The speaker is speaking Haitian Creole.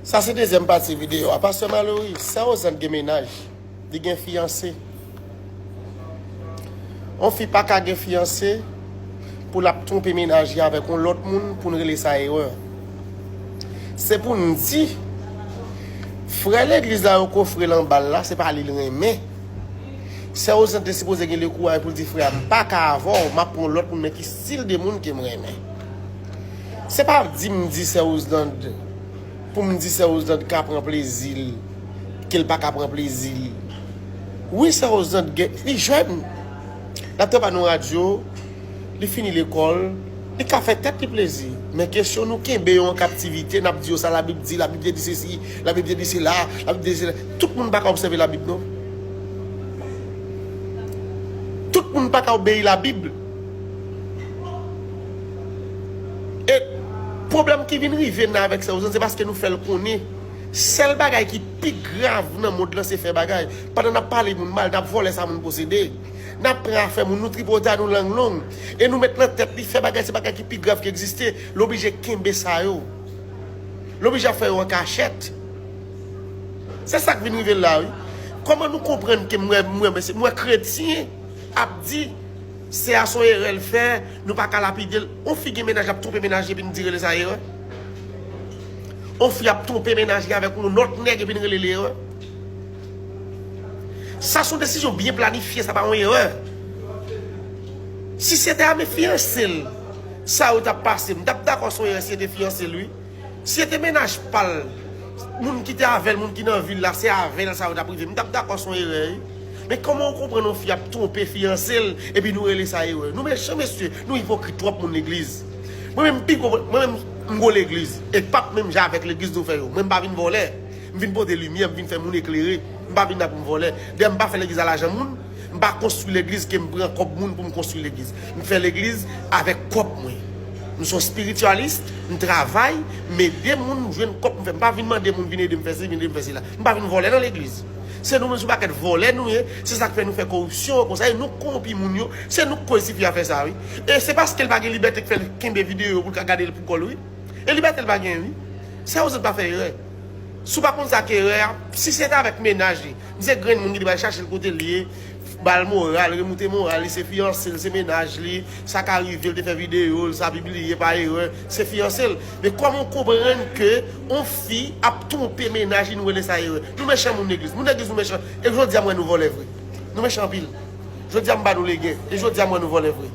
Sa se dezyèm pati video a. Pastè Malory, sè Ozan gen mennaj, li gen fiyanse. On fi pa ka gen fiyanse pou l ap twonpe mennaj li avèk on lòt moun pou n rele sa erè. Se pou n di, frè legliz la yo kofre l anba l la, se pa li l renmen. Sè Ozan te sipoze gen le kouraj pou l di frè a, m pa ka avè w, m ap pran on lòt moun men ki stil de moun ke m renmen. Se pa di m di sè Roselande pou m di sè Roselande ka pran plezi l ke l pa ka pran plezi li. Wi sè Roselande gen, li jèn, l ap travay nan yon radyo, li fini lekòl, li ka fè tèt li plezi. Men kesyon nou kenbe yo an kaptivite, n ap di yo sa labib di, labib te di sesi, labib te di sela, labib te di sela. Tout moun pa ka obsève labib non. Tout moun pa ka obeyi labib. E pwoblèm ki vin rive nan avèk Sèwozan se paske nou fè l konnen sèl bagay ki pi grav nan mond lan se fè bagay. Pandan n ap pale moun mal, n ap vòlè sa moun posede, n ap pran afè moun, nou tripotay, nou lang long. E nou met nan tèt li fè bagay se bagay ki pi grav ki egziste. L oblije kenbe sa yo. L oblije ap fè yo an kachèt. Se sa k vin rive la wi. Kòman nou konprann ke m wè kretyen ap di. Se a son erè l fè, nou pa ka lapide l. On fi gen mennaj lap twonpe mennaj li epi n di rele sa erè? On fi ap twonpe mennaj li avèk on lòt nèg epi n rele l erè? Sa son desizyon byen planifye sa pa on erè. Si se te a me fiyanse l sa yo tap pase m tap dakò son erè si se te fiyanse l wi. Si se te mennaj pal, moun ki te avèl, moun ki nan vil la, se avèl sa yo tap rive, m tap dakò son erè wi. Men kòman ou konprann yon fi ap twonpe fiyansel epi nou rele sa erè. Nou mechan mesye, nou ipokrit twòp moun legliz. Mwen menm m pi gwo, mwen menm m gwo legliz e pap menm jan avèk legliz nou fè yo. Mwen m pa vin vòlè, m vin pote limyè, m vin fè moun eklere, m pa vin la pou m vòlè. Dayè m pa fè legliz a lajan moun. M pa konstwi legliz ke m pran kòb moun pou m konstwi legliz. M fè legliz avèk kòb mwen. M son spirityalis, m travay, m ede moun m jwenn kòb m fè. M pa vin mande moun vin ede m fè si, vin ede m fè sila. M pa vin vòlè nan legliz. Se nou menm se yon pakèt vòlè nou ye, se sa k fè nou fè koripsyon an konsa e nou k kowonpi moun yo. Se nou k koz tifi a fè sa wi. E se paske l pa gen libète k fè l kenbe videyo yo pou l ka gade l pou kò l wi. E libète l pa genyen wi. Sè yo zèt pa fè erè. Si w pa konn sa k erè a, si se t avèk mennaj li, M se grenn moun ki te bal chachel kote li ye, bal moral, remoute moral li, se fiyanse l, se mennaj li, sa ka rive l te fè videyo l, sa pibliye pa erè, se fiyanse l. Men kòman w konprann ke on fi ap twonpe mennaj li nou rele sa erè? Nou mechan moun legliz, moun legliz nou mechan e jodi a m wè nou vòlè vre. Nou mechan anpil. Jodi a m ba nou legen e jodi a m wè nou vòlè vre.